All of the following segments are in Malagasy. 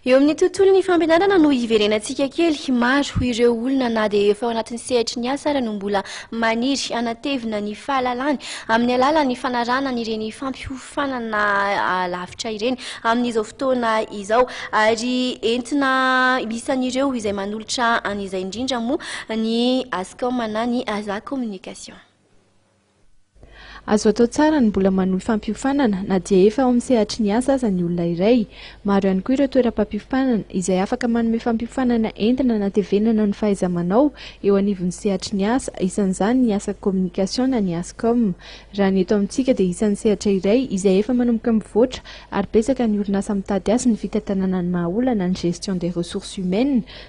Eo amin'ny tontolon'ny fampianarana no hiverenantsika kely. Maro ireo olona na dia efa ao anatin'ny sehatry ny asa ary no mbola maniry hanatevina ny fahalalany amin'ny alalan'ny fanarahana ireny fampiofanana lavitra ireny amin'izao fotoana izao. Ary entina isan'ireo izay manolotra an'izay indrindra moa ny Ascom na ny Aza Communication. Azo atao tsara ny mbola manohy fampiofanana na dia efa ao amin'ny sehatry ny asa aza ny olona iray. Maro ihany koa ireo toeram-pampiofanana izay afaka manome fampiofanana entina hanatevenana ny fahaiza-manao eo anivon'ny sehatry ny asa, isan'izany ny asa communication na ny Ascom. Raha ny eto amintsika dia isan'ny sehatra iray izay efa manomboka mivoatra ary betsaka ny orinasa mitady azy ny fitantanana ny maha-olana ny gestion des ressources humaines,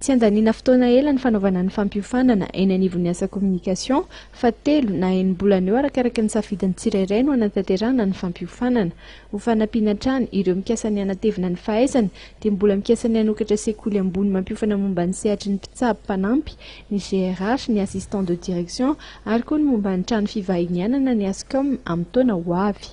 Tsy andaniana fotoana ela ny fanaovana ny fampiofanana eny anivon'ny asa communication fa telo na enim-bolana eo arakaraka ny safidin'ny tsirairay no hanatanterahana ny fampiofanana. Ho fanampiana hatrany ireo mikasa ny hanatevina ny fahaizany dia mbola mikasa ny hanokatra sekoly ambony mampiofana momba ny sehatry ny mpitsabo mpanampy, ny GRH, ny assistant de direction ary koa ny momba ny trano fivahinianana ny Ascom amin'ny taona ho avy.